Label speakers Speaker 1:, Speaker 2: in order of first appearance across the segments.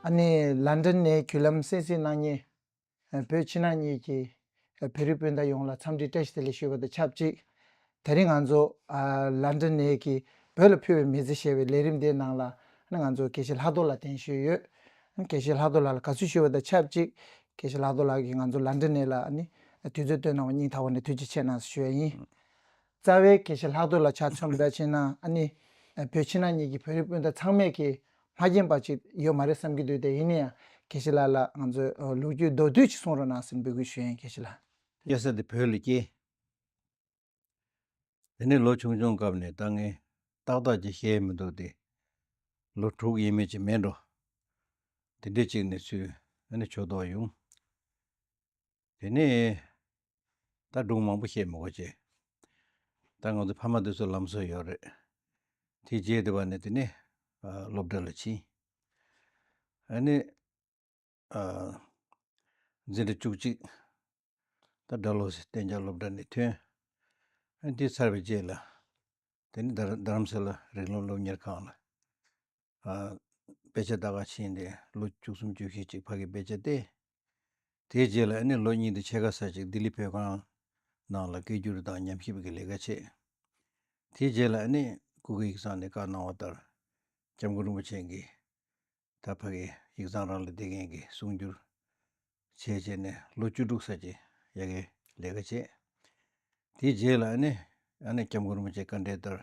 Speaker 1: ཨ་ནེ་ལཱན་དྲན་ནས་བརྒྱུད་ལམ་གསན་གསན་གནང་ཉེ། བོད་ཕྱི་ནང་གཉིས་ཀྱི་བོད་རིགས་སྤུན་ཟླ་ཡོངས་ལ་འཚམས་འདྲི་བཀྲ་ཤིས་བདེ་ལེགས་ཞུ་བ་དང་ཆབས་ཅིག་ད་རིང་ང་ཚོ་ལཱན་དྲན་ནས་ཀྱི་བོད་ལ་ཕུལ་བའི་མི་ཚེ་ཞེས་པའི་ལས་རིམ་དེའི་ནང་ལ་ང་ཚོ་དགེ་བཤེས་ལྷག་རྡོར་ལགས་གདན་ཞུས་ཡོད། དགེ་བཤེས་ལྷག་རྡོར་ལགས་ལ་དགའ་བསུ་ཞུ་བ་དང་ཆབས་ཅིག་དགེ་བཤེས་ལྷག་རྡོར་ལགས་ཀྱིས་ང་ཚོ་ལཱན་དྲན་ནས་ལ་དུས་ཚོད་བཏོན་གནང་བ་སྙིང་ཐག་པ་ནས་ཐུགས་རྗེ་ཆེ་གནང་ཞུ་ཡ་ཡིན། རྩ་བའི་དགེ་བཤེས་ལྷག་འདོད་ལ་ཆ་མཚོན་འབད་བྱས་ན་ནི། བོད་ཕྱི་ནང་གཉིས་ཀྱི་བོད་རིགས་སྤུན་ཟླ་ཚང་མས་ཀྱིས་མ་མཁྱེན་པ་ཅིག་ཡོད་མ་རེད་བསམ་གྱི་འདུག་དེ་ཡིན་ན་ཡང་དགེ་བཤེས་ལགས་ལ་ང་ཚོས་ལོ་རྒྱུས་མདོར་བསྡུས་ཅིག་གསུང་རོགས་གནང་ཟེར་འབོད་སྐུལ་ཞུ་ཡིན་དགེ་བཤེས་ལགས། གཡས་ས་དེ་བོད་ལ་
Speaker 2: སྐྱེས། དེ་ནས་ལོ་ཆུང་ཆུང་སྐབས་ནས་ལྟ་ངན། ཏག་ཏག་ཅིག་བཤད་ཡི་མི་འདུག་དེ། ལོ་དྲུག་ཡས་མས་ཅིག་མེད་འགྲོ། དེ་འདྲས་ཅིག་ནས་ཚུལ། ཨ་ནི་ཆོས་ཐོག་ཡོང། དེ་ནས་ད་སྒྲུང་མང་པོ་བཤད་མི་གོ་བྱས། ད་ང་ཚོ་ཕ་མ་དེ་ཚོ་ལམ་སྲོལ་ཡོད་རེད། དེ་རྗེས་དེ་བ་ནས་དེ་ནས་སློབ་གྲྭ་ལ་ཕྱིན། ཨ་ནི་འཛིན་གྲྭ་བཅུ་གཅིག་ད་སྦྲ་ལོ་སི་གཏན་འཇགས་སློབ་གྲྭ་ནས་ཐོན། ཨ་ནི་དེ་ཚར་བའི་རྗེས་ལ་དེ་ནི་རྡ་རམ་ས་ལ་རིག་ལམ་སློབ་གཉེར་ཁང་ལ། དཔེ་ཆ་ད་ག་ཕྱིན་ཏེ་ལོ་བཅུ་གསུམ་བཅུ་ཤས་ཅིག་ཕ་གི་དཔེ་ཆ་སྟེ། དེའི་རྗེས་ལ་ཨ་ནེ་ལོ་གཉིས་དང་ཕྱེད་ཀ་ས་ཅིག་ལྡི་ལི་བོད་ཁང་ནང་ལ་སྐད་སྒྱུར་དང་ཉམས་ཞིབ་ཀྱི་ལས་ཀ་བྱས། དེའི་རྗེས་ལ་ཨ་ནེས་སྐུ་གི་ཡིག་ཚང་ནས་བཀའ་གནང་བ་ལྟར ྋསྐྱབས་མགོན་རིན་པོ་ཆེ་གིས་ད་ཕ་གི་ཡིག་ཚང་རང་ལ་འདེད་མཁན་གྱི་གསུང་སྒྱུར་བྱེད་ཅེས་ནས་ལོ་བཅུ་དྲུག་ས་ཅིག་ཡ་གི་ལས་ཀ་བྱས། དེའི་རྗེས་ལ་ཨ་ནེས ྋསྐྱབས་མགོན་རིན་པོ་ཆེའི་བཀའ་འབྲེལ་ལྟར་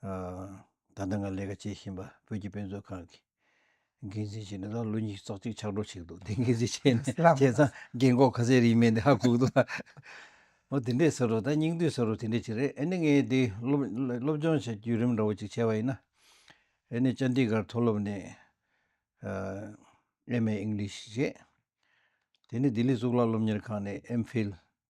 Speaker 2: ད་ལྟ་ང་ལས་ཀ་བྱེད་བཞིན་པ་བོད་ཀྱི་དཔེ་མཛོད་ཁང་གི་འགན་འཛིན་བྱས་ནས་ད་ལོ་ཉིས་སྟོང་གཅིག་ཕྱག་གྲོགས་བྱས་འདུག་དེ་འགན་འཛིན་བྱས་ནས་བྱས་ཙང་རྒན་གོག་ག་ཚད་རིན་མེད་འདི་ཧ་གོ་འདུག་ད། ཨོ་དེ་འདྲས་ཟེར་རོ་ད་སྙིང་བསྡུས་ཟེར་རོ་དེ་འདྲས་ཅིག་རེད་ཨེ་ནི་ངས་དེ་སློབ་སྦྱོང་བྱ་རྒྱུའི་རིམ་འདྲ་བོ་ཅིག་བྱས་པ་ཡིན་ན། ཨེ་ནི་ཅཱན་ཏི་གྷར་མཐོ་སློབ་ནས MA English བྱས། དེ་ནས་ལྡི་ལི་གཙུག་ལག་སློབ་གཉེར་ཁང་ནས MPhil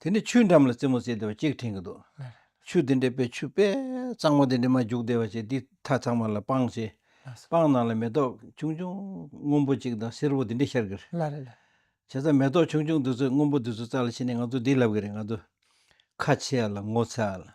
Speaker 2: དེ་ནས་ཆུའི་འགྲམ་ལ་རྩེ་མོ་རྩེ་བདེ་བ་གཅིག་འཁྲེང་གི་འདུག། ཆུ་དེ་འདྲེས་པས་ཆུ་པད་གཙང་མ་དེ་འདྲེས་མ་རྒྱུག་བདེ་བ་བྱས་དེའི་མཐའ་ཚང་མ་ལ་སྤང་བྱས། སྤང་ནང་ལ་མེ་ཏོག་ཆུང་ཆུང་སྔོན་པོ་གཅིག་དང་སེར་པོ་དེ་འདྲེས་ཤར་གི་རེད།
Speaker 1: བྱས་ཙང་མེ་ཏོག་
Speaker 2: ཆུང་ཆུང་དེ་ཚོས་སྔོན་པོ་དེ་ཚོ་བཙགས་ལ་ཕྱིན་ནས་ང་ཚོ་འདི་ལབ་གི་རེད་ང་ཚོ་ཁ་ཕྱེ་ཨ་ལ་ངོ་ཚ་ཨ་ལ།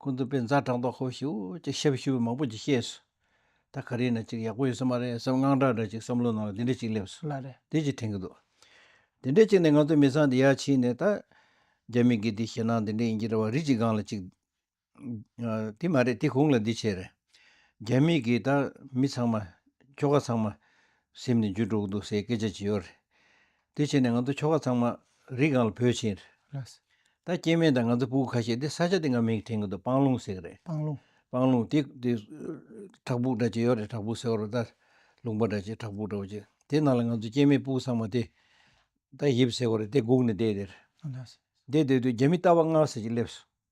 Speaker 2: ཀུན་ཏུ་དཔེ་མཛངས་དྲང་ལྡོག་ཧོ་ཞིའོ་ཅེས་ཞབས་ཞུ་བ་མང་པོ་ཅིག་ཤེས་སོ། ད་ག་རེ་ན་ཅིག་ཡག་པོ་ཡོད་ས་མ་རེད་བསམ་དངངས་སྐྲག་འདྲ་ཅིག་བསམ་བློ་ནང་ལ་འདི་འདྲ་ཅིག་སླེབས་སོང་ལ་རེད་འདི་ཅིག་དྲན་གྱི་འདུག་དེ་འདྲས་ཅིག་ནས་ང་ཚོ་མི་ཚང་འདི་ཡར་ཕྱིན་ནས་ད། རྒྱ་མི་གིས་འདི་ཞེད་སྣང་འདི་འདྲས་ཡིན་གྱི་རེད་བ་རིགས་ཅིག་སྒང་ལ་ཅིག། དེ་མ་རེད་དེ་གུང་ལ་འདི་བྱས་རེད། རྒྱ་མི་གིས་ད་མི་ཚང་མ། ཁྱོ་ག་ཚང་མ། སེམས་ནས་འཇུ་འགྲོ་གི་འདུག་ཟེར་སྐད་ཆ་ཅིག་ཡོད་རེད། དེ་བྱས་ནས་ང་ཚོ་ཁྱོ་ག་ཚང་མ་རི་སྒང་ལ་བོས་ཕྱིན། ད་སྐྱེས་
Speaker 1: དམན་དང་
Speaker 2: ང་ཚོ་སྤུ་གུ་ཁ་ཤས་དེ་ས་ཆ་དེ་སྔར་མིང་དྲན་གི་འདུག་སྤང་ལུང་ཟེར་གི་རེད། སྤང་ལུང། སྤང་ལུང་དེ་དེ་བྲག་ཕུག་འདྲ་ཅིག་ཡོད་རེད་བྲག་ཕུག་ཟེར་བ་རུ་ད་ལུང་པ་འདྲ་ཅིག་བྲག་ཕུག་འདྲ་བོ་ཅིག་དེ་ནང་ལ་ང་ཚོ་སྐྱེས་དམན་སྤུ་གུ་ཚང་མ་དེ་ད་ཡིབ་ཟེར་བ་རེད་དེ་སྒུག་ནས་བསྡད་དེར། བསྡད་བསྡད་
Speaker 1: དུས་རྒྱ་མི་
Speaker 2: རྟ་བ་ལྔ་ཟེར་གཅིག་སླེབས་སོང།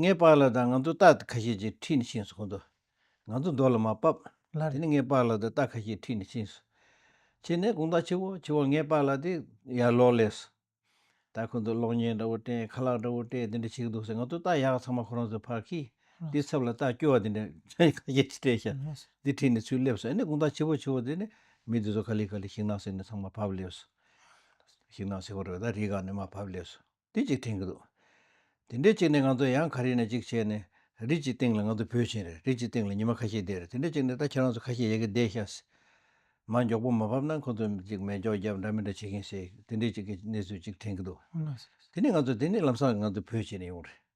Speaker 1: ངའི་
Speaker 2: པགས་ལ་དང་ང་ཚོ་རྟ་ཁ་ཤས་ཀྱིས་ཁྲིད་ནས་ཕྱིན་སོང་གོ་འདུག་ང་ཚོ་རྡོ་ལ་མ་བབས། དེ་ནས་ངའི་པགས་ལ་
Speaker 1: དང་རྟ་ཁ་
Speaker 2: ཤས་ཁྲིད་ནས་ཕྱིན་སོང། ཕྱིན་ནས་དགུང་ཟླ་ཆུ་བོ་ཆུ་བོ་ངའི་པགས་ལ་དེ་ཡར་ལོག་སླེབས་སོང། རྟ་ཁོ་ཚོས་གློག་བརྙན་འདྲ་བོ་སྤྲད་ཁ་ལག་འདྲ་བོ་སྤྲད་དེ་འདྲ་བྱེད་ཀྱི་འདུག་ཟེར་ང་ཚོ་རྟ་ཡག་ཚང་མ་ཁོ་རང་ཚོའི་ཕར་ཁྱེར། དེའི་ཚབ་ལ་རྟ་སྐྱོ་བ་དེ་འདྲ་ཁ་ཤས་ཀྱིས་སྤྲད་ཤག་འདི་ཁྲིད་ནས་ཚུར་སླེབས་སོང་ཨེ་ནས་དགུང་ཟླ་ཆུ་བོ་ཆུ་བོ་དེ་ནས་མི་དེ་ཚོ་ག་ལེ་ག་ལེ་ཤིང་ནགས་སེར་ནས་ཚང་མ་བབས་སླེབས་སོང། ཤིང་ནགས་སེར་བོ་རེད་པས་ད་རི་འགག་ནས་མ་བབས་སླེབས་སོང། དེ་གཅིག་དྲན་གྱི་འདུག་དེ་འདྲའི་གཅིག་ནི་ང་ཚོ་ཡང་ག་རེ་ནས་གཅིག་བྱས་ནས་རིགས་ཀྱི་སྟེང་ལ་ང་ཚོ་བོད་ཆེན་རེད་རིགས་ཀྱི་སྟེང་ལ་ཉི་མ་ཁ་ཤས་བསྡད་རེད་དེ་འདྲའི་གཅིག་ནི་ད་ཁྱེད་རང་ཚོ་ཁ་ཤས་ཡལ་གྱི་བསྡད་ཤག་ཟེར། མ་མགྱོགས་པོ་མ་བབས་ན་ཁོ་ཚོ་གཅིག་མེད་འཇོག་རྒྱབ་འདྲ་མི་འདྲ་བྱེད་ཀྱིན་ཟེར་དེ་འདྲའི་གཅིག་གི་གནས་ཚུལ་གཅིག་དྲན་གྱི་འདུག་དེ་ནི་ང་ཚོ་དེ་ནི་ལམ་སང་ང་ཚོ་བོད་ཆེན་ནས་ཡོང་རེད།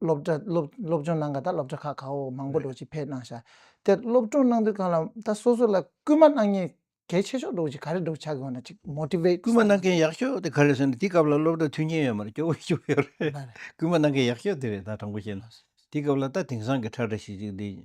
Speaker 1: སློབ་གྲྭ་སློབ་སློབ་སྦྱོང་གནང་ག་ད་སློབ་གྲྭ་ཁག་ཁག་འོག་མང་པོ་འགྲོ་ཅིག་ཕེབས་གནང་ཤག་དེར་སློབ་སྤྲོང་གནང་དུས་གང་ལ་ད་སོ་སོ་ལ་སྐུལ་མ་གནང་ཉེས་གལ་ཆེ་ཤོག་འགྲོ་ཅིག་ག་རེ་འགྲོ་ཆག་གི་འོ་ན་ཅིག་མོཏིབེ། སྐུལ་མ་གནང་མཁན་ཡག་ཤོག་
Speaker 2: དེ་ག་རེ་ཟེར་ན་དེ་སྐབས་ལ་སློབ་གྲྭ་མཐུན་རྐྱེན་ཡོད་མ་རེད་སྐྱོ་བོ་སྐྱོ་བོ་ཡོད་རེད་སྐུལ་མ་གནང་མཁན་ཡག་ཤོག་དེ་རེད་ད་དྲང་པོ་བཤད་ན་དེ་སྐབས་ལ་ད་དེང་སང་གི་ཁྲ་ཁྲ་ཤིག་ཤིག་འདི།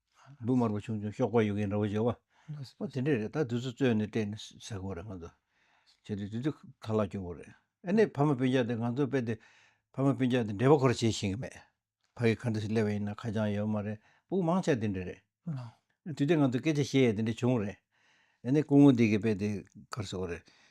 Speaker 2: འབུ་དམར་པོ་ཆུང་ཆུང་གཤོག་པ་ཡོད་མཁན་འདྲ་བོ་བྱེད། བ་དེ་འདྲས་རེད་ད་དུས་ཚོད་རྩོད་ནས་བལྟས་ནས་ཟེར་དགོས་རེད་ང་ཚོ། བྱས་ཏེ་དུས་ཚོད་ག་ལ་སྐྱོ་བོ་རེད་ཨ་ནེ་ཕ་མ་སྤུན་ཆགས་དེ་ང་ཚོ་དཔེ་དེ། ཕ་མ་སྤུན་ཆགས་དེ་འབྲེལ་བ་ཁོ་ར་བྱེད་ཤེས་ཀྱི་མེད། ཕ་གི་ཁ་འདི་སླེབས་པ་ཡིན་ན་ཁ་བྱང་ཡོད་མ་རེད་སྤུག་མང་ཆགས་དེ་འདྲས་རེད། དུས་དེ་ང་ཚོ་སྐད་ཆ་བཤད་ཡས་དེ་འདྲས་བྱུང་རེད། ཨ་ནེ་སྐུ་ངོ་འདི་གི་དཔེ་དེ་གར་སོང་རེད།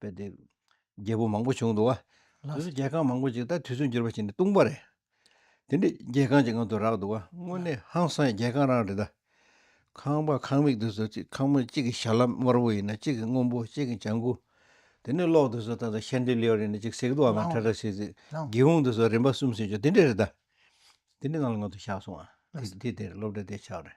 Speaker 2: པའི་དེ་རྒྱལ་པོ་མང་པོ་བྱུང་འདུག་བ། དེ་སུ་རྒྱལ་ཁང་མང་པོ་ཅིག་ད་དུས་ཚོད་འགྱུར་བ་ཅིག་ནི་ལྟུང་བ་རེད། དེ་འདྲའི་རྒྱལ་ཁང་ཅིག་ང་དུ་རག་འདུག་བ་དངོས་གནས་ཧང་སང་ཡི་རྒྱལ་ཁང་རང་རེད་ད། ཁང་པ་ཁང་མིག་དེ་སུ་ཅིག་ཁང་མིག་གཅིག་གི་ཞྭ་ལམ་དམར་བོ་ཡིན་ན་གཅིག་གི་སྔོན་པོ་གཅིག་གི་ལྗང་གུ། དེ་ནས་གློག་དེ་སུ་ད་ད་ཤན་ཏི་ལིའོར་ཡིན་ན་གཅིག་སེག་རྡོ་འམ་ཁྲ་ཁྲ་ཟིག་ཟིག། སྒེའུ་ཁུང་དེ་སུ་རིམ་པ་གསུམ་གསུམ་བྱུང་དེ་འདྲ་རེད་ད། དེ་འདྲའི་ནང་ལ་ང་དུ་བཞག་སོང་བ། དེ་དེར་སློབ་གྲྭ་དེ་ཆགས་རེད།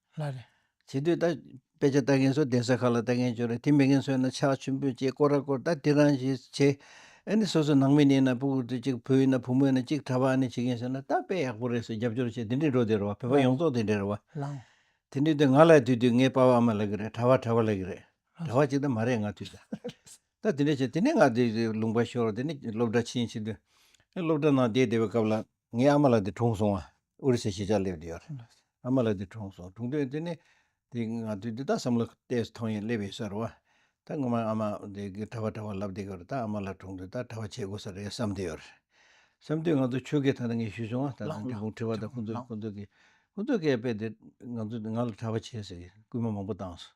Speaker 2: ལ་རེ།
Speaker 1: བྱེད་དུས་ད། དཔེ་
Speaker 2: ཆ་ལྟ་མཁན་ཚོ་གདན་ས་ཁག་ལ་ལྟ་མཁན་བྱུང་རེད་དེ་མི་ངན་ཚོས་ན་ཕྱག་མཆོད་འབུལ་བྱེད་སྐོར་ར་སྐོར་ད་དེ་རང་བཞིན་བྱེད། ཨ་ནི་སོ་སོ་ནང་མི་ནས་ན་སྤུ་གུ་དུས་གཅིག་བུ་ཡིན་ན་བུ་མོ་ཡིན་ན་གཅིག་གྲྭ་པ་ཨ་ནི་བྱེད་མཁན་བྱས་ན་ད་དཔེ་ཡག་པོ་རེད་ཟེར་རྒྱབ་སྐྱོར་བྱེད་དེ་འདྲའི་འགྲོ་དེ་རེད་བ་བོད་པ་ཡོངས་རྫོགས་དེ་འདྲའི་རེད་བ། ལང།
Speaker 1: དེ་འདྲའི་དུས་ང་ལ་
Speaker 2: དུས་དུས་ངའི་དཔའ་བོ་ཨ་མ་ལ་གི་རེད་གྲྭ་བ་གྲྭ་བ་ལ་གི་རེད་གྲྭ་བ་གཅིག་ད་མ་རེད་ང་དུས་ད། ད་དེ་འདྲའི་བྱས་དེ་ནས་ང་དུས་ལུང་པ་ཤོར་དེ་ནས་སློབ་གྲྭ་ཕྱིན་ཕྱིན་དུས། སློབ་གྲྭ་ནང་བསྡད་བསྡད་པའི་སྐབས་ལ། ངའི་ཨ་མ་ལགས་དེ་གྲོངས་སོང་བ་ཨོ་རི་སའི་གཞིས་ཆགས་སླེབས་དེ་ཡོད་རེད། ཨ་མ་ལགས་དེ་གྲོངས་སོང་གྲོངས་དོན་དེ་ནི་དེ་ང་ཚོས་དེ་དག་བསམ་བློ་གཏད་སོང་ཡང་སླེབས་ཡོད་ས་རུ་བ། ད་སྔོན་མ་ཨ་མ་དེ་གི་གྲྭ་བ་གྲྭ་བ་ལབ་དེ་གི་རུ་ད་ཨ་མ་ལགས་གྲོངས་དུས་ད་གྲྭ་བ་བྱེད་དགོས་ས་རེད་བསམ་དེ་ཡོད་རེད། བསམ་དུས་ང་ཚོ་ཆོལ་ཁའི་ཐང་ན་ངས་ཞུས་སོང་བ་ད་དང་དེ་གུང་ཁྲི་བ་དང་ཁོང་ཚོ་ཁོང་ཚོ་གི་ཁོང་ཚོ་གས་དཔེ་དེ་ང་ཚོ་ང་ལ་གྲྭ་བ་བྱེད་ཟེར་གི་སྐུལ་མ་མང་པོ་བཏང་སོང།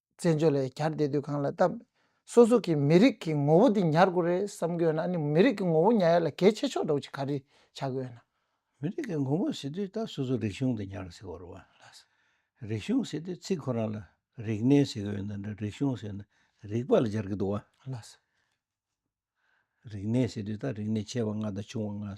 Speaker 1: བཙན་བྱོལ་ལ་གར་བསྡད་དུས་གང་ལ་བལྟ། སོ་སོ་གི་མི་རིགས་ཀྱི་ངོ་བོ་དེ་ཉར་དགོས་རེད་བསམ་གི་ཡོད་ན་ནི་མི་རིགས་ཀྱི་ངོ་བོ་ཉར་ཡ་ལ་གལ་ཆེ་ཕྱོགས་འགྲོ་ཅིག་ག་རེ་བྱ་གི་ཡོད་ན། མི་རིགས་ཀྱི་ངོ་བོ་
Speaker 2: ཟེར་དུས་ད་སོ་སོ་རིག་གཞུང་དེ་ཉར་ཟེར་བར་བ་ལ། རིག་གཞུང་ཟེར་དུས་ཚིག་ཁོ་རང་ལ་རིག་གནས་ཟེར་གི་ཡོད་ན་འདྲ་རིག་གཞུང་ཟེར་ན་རིག་པ་ལ་སྦྱར་གི་འདུག་བ་ལ།
Speaker 1: རིག་
Speaker 2: གནས་ཟེར་དུས་ད་རིག་གནས་ཆེ་བ་ང་དང་ཆུང་བ་ང།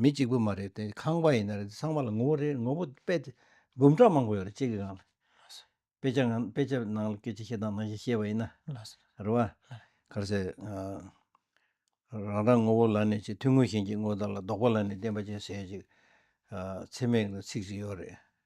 Speaker 2: མི་གཅིག་པུ་མ་རེད་དེ་ཁང་པ་ཡིན་ན་རེད་ཚང་མ་ལ་ངོ་བོ་རེད་ངོ་བོ་དཔེ་དེ་འབུམ་ཕྲག་མང་པོ་ཡོད་རེད་གཅིག་གི་ནང་ལ། དཔེ་ཆ་ནང་དཔེ་ཆ་ནང་ལ་སྐད་ཆ་བཤད་སྟངས་ནང་བཞིན་བཤད་པ་ཡིན་ན། རེད་བ། ག་རེ་ཟེར། རང་རང་ངོ་བོ་ལ་ནི་ཅིག་ཐུང་ངུ་ཞིང་ཅིག་དངོས་དང་ལ་ལྡོག་པ་ལ་ནི་བདེན་པ་ཅན་ཟེར་ཡོད་ཅིག། ཚེ་སྨད་ལ་ཚིག་ཅིག་ཡོད་རེད།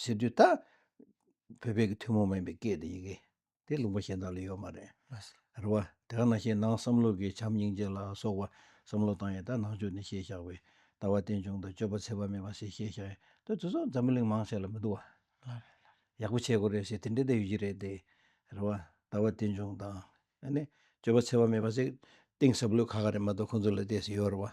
Speaker 2: ཟེར་དུས་ད་བོད་པའི་ཐུན་མོང་མིན་པའི་སྐད་དེ་ཡི་གེ་དེ་ལུང་པ་གཞན་དག་ལ་ཡོད་མ་རེད། རེད་བ།
Speaker 1: དེ་ག་ནང་
Speaker 2: བཞིན་ནང་བསམ་བློ་གི་བྱམས་སྙིང་རྗེ་ལ་སོགས་པ་བསམ་བློ་བཏང་ཡས་ད་ནང་ཆོས་ནི་ཤེས་བཞག་པའི་ལྟ་བ་རྟེན་འབྱུང་དང་སྤྱོད་པ་ཚད་པ་མེད་པ་ཞེས་ཤེས་བཞག་ཡས་ད་དེ་ཚོ་འཛམ་བུ་གླིང་མང་ཆེ་ལ་མི་འདུག་བ། ཡག་པོ་བྱེད་དགོས་རེད་ཞེས་དེ་འདྲའི་ལྟ་ཡོད་ཀྱི་རེད་དེ། རེད་བ། ལྟ་བ་རྟེན་འབྱུང་དང། ཨ་ནི། སྤྱོད་པ་ཚད་པ་མེད་པ་ཟིག་གཏིང་ཟབ་ལོས་ཁ་ཁ་རེད་མ་གཏོགས་ཁོང་ཚོ་ལ་བལྟས་ཟིན་ཡོད་རེད་བ།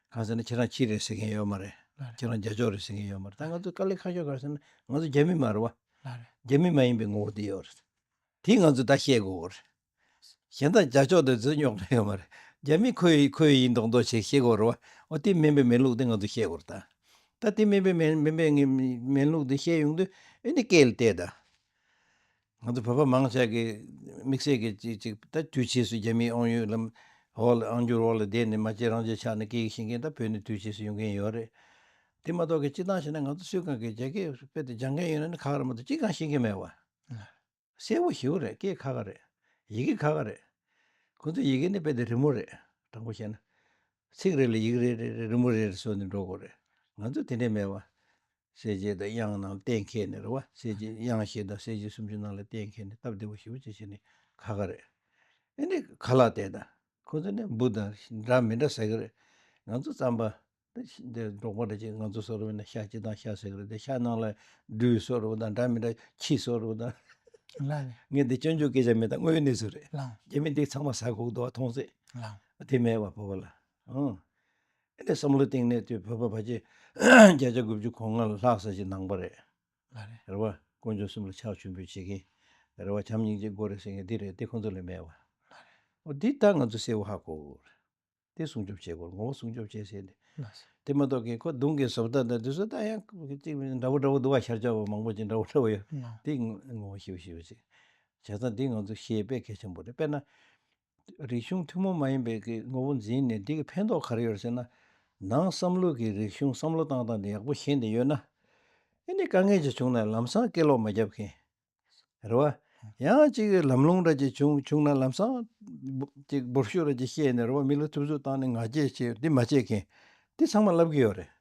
Speaker 2: གང་ཟེར་ན་
Speaker 1: ཁྱེད་རང་ཕྱི་རེད་
Speaker 2: ཟེར་མཁན་ཡོད་མ་རེད། ཁྱེད་རང་རྒྱ་ཕྱོགས་རེད་ཟེར་མཁན་ཡོད་མ་རེད་ད་ང་ཚོ་ཀ་ལི་ཁ་ཤོ་གར་ཟེར་ན་ང་ཚོ་རྒྱ་མི་མ་རེད་བ། རྒྱ་མི་མ་
Speaker 1: ཡིན་པའི་ངོ་བོ་
Speaker 2: དེ་ཡོད་རེད། དེ་ང་ཚོས་ད་ཤེས་དགོས་བོ་རེད། གཞན་དག་རྒྱ་ཕྱོགས་དེ་ཚོས་རྙོག་དྲ་ཡོད་མ་རེད། རྒྱ་མི་ཁོ་ཡི་ཁོ་ཡི་ཡིན་མདོག་མདོག་བྱེད་ཤེས་དགོས་རེད་བ། འོ་དེ་མིན་པའི་མེན་ལུགས་དེ་ང་ཚོས་ཤེས་དགོས་རེད་ད། ད་དེ་མིན་པའི་མེན་མིན་པའི་མེན་ལུགས་དེ་ཤེས་ཡོང་དུས་ཨེ་འདི་སྐད་ལ་བལྟས་ད། ང་ཚོ་བོད་པ་མང་ཆེ་གི་དམིགས་བསལ་གྱི་ཅིག་ཅིག་ད་དུས་ཕྱིས་སུ་རྒྱ་མིའི་ཨང་ཡོད་ལམ་འོག་ལ་ཨང་རྒྱུར་འོག་ལ་བསྡད་ནས་མ་གཅིག་རང་ཅིག་ཆགས་ནས་སྐད་ཡིག་ཤེས་མཁན་ད་བོད་ནས་དུས་ཕྱིས་སུ་ཡོང་མཁན་ཡོད་རེད། དེ་མ་གཏོགས་གི་སྤྱི་བཏང་བྱས་ན་ང་ཚོ་སུས་གང་གི་རྒྱ་སྐད་དཔེ་དེ་སྦྱང་མཁན་ཡོད་ན་ཁག་ར་མ་གཏོགས་ཅིག་གང་ཤེས་མཁན་མེད་བ། གསལ་བོ་ཞིའོ་རེད་སྐད་ཁག་ཁ་རེད། ཡི་གེ་ཁག་ཁ་རེད། ཁོང་ཚོས་ཡི་གེ་ནི་དཔེ་དེ་རི་མོ་རེད་དྲང་པོ་བཤད་ན། ཚིག་རེ་ལ་ཡིག་རེ་རེ་རི་མོ་རེ་རེ་བཟོས་ནས་འགྲོ་དགོས་རེད། ང་ཚོས་དེ་འདྲས་མེད་བ། གསལ་བྱེད་དང་དབྱངས་རྣམས་གཏན་མཁས་ནས་རེད་བ། གསལ་བྱེད་དབྱངས་ཞེས་དང་གསལ་བྱེད་སུམ་ཅུ་རྣམས་ལ་གཏན་མཁས་ནས་སྟབས་བདེ་བོ་ཞིག་བུ་བྱེད་བྱེད་ནི་ཁ་ཁ་རེད། ཨེ་ནི་ག་ལ་དེ་དང་ཁོ་ཚོ་ནི་འབུ་དང་འདྲ་མི་འདྲ་ཟེར་གི་རེད། ང་ཚོ་རྩམ་པ། འདི་འབྲོག་པ་འདྲ་ཅིག་ང་ཚོ་ཟོ་རུ་བས་ན་ཤ་སྤྱི་དང་ཤ་ཟེར་གི་རེད་དེ་ཤ་ནང་ལ་སྦྲུལ་ཟོ་རུ་བ་དང་འདྲ་མི་འདྲ་ཁྱི་ཟོ་རུ་བ་དང།
Speaker 1: ངས་འདི་སྤྱོད་འཇུག་སྐད་
Speaker 2: ཆ་མེད་དང་དངོས་ཡོད་གནས་ཚུལ་རེད། རྒྱ་མི་འདི་ཚང་
Speaker 1: མ་ཟ་
Speaker 2: གོག་འདུག་བ་མཐོང་ཚེ། དེ་མེད་
Speaker 1: བ་བོ་བ་ལ།
Speaker 2: ཨང། བསམ་བློའི་སྟེང་ནས་དེ་བོད་པ་བར་ཆད་བརྒྱ་ཆ་དགུ་བཅུ་གོ་ལྔ་ལ་ལྷག་ས་ཞིག་ནང་པ་རེད། རེད་བ།
Speaker 1: དཀོན་མཆོག་
Speaker 2: གསུམ་ལ་ཕྱག་མཆོད་འབུལ་བྱེད་མཁན། རེད་བ། བྱམས་སྙིང་རྗེ་མགོ་རེད་ཟེར་མཁན་འདི་རེད་དེ་ཁོང་ཚོ་ལས་མེད་བ། རེད་བ། འདི་ལྟར་ང་ཚོ་སེར་བོ་ཧ་གོ། དེ་སྲུང་སྐྱོབ་བྱེད་དགོས་ངོ་བོ་སྲུང་སྐྱོབ་བྱེད་ཟེར་ནས། དེ་མ་གཏོགས་
Speaker 1: ཀྱི་ཁོ་རྡུང་
Speaker 2: གི་བཟོ་ལྟ་དང་དེ་བཟོ་ལྟ་ཡང་གཅིག་འདྲ་བོ་འདྲ་བོ་འདུག་བ་ཤར་ཕྱོགས་བ་མང་པོ་ཅིག་འདྲ་བོ་འདྲ་བོ་ཡོད་དེ་ངོ་
Speaker 1: བོ་ཤེས་
Speaker 2: བྱེད་པ་ཅིག་བྱས་ཙང་དེ་ང་ཚོ་ཤེས་དཔེ་གལ་ཆེན་པོ་རེད་དཔེར་ན། རིག་གཞུང་ཐུན་མོང་མ་ཡིན་པའི་ཀྱི་ངོ་བོ་འཛིན་ནས་འདི་གི་ཕན་ཐོག་ག་རེ་ཡོད་ཟེར་ན། ནང་བསམ་བློ་གི་རིག་གཞུང་བསམ་བློ་བཏང་སྟངས་དེ་ཡག་པོ་ཤེས་འདི་ཡོད་ན། ཨེ་ནི་དཀའ་ངལ་ཅིག་བྱུང་ན་ལམ་སང་སྐད་ལོག་མ་རྒྱབ་མཁན། རེད་བ། ཡང་གཅིག་ལམ་ལྷུང་ར་ཅིག་བྱུང་བྱུང་ན་ལམ་སང། ཅིག་འབུར་ཤུགས་ར་ཅིག་བཤད་ནས་རེད་བ་མི་ལ་ཐུབ་ཚོད་བཏང་ནས་ང་རྒྱལ་བྱེད་འདི་མ་བྱེད་མཁན། འདི་ཚང་མ་ལབ་ཀྱི་ཡོད་རེད།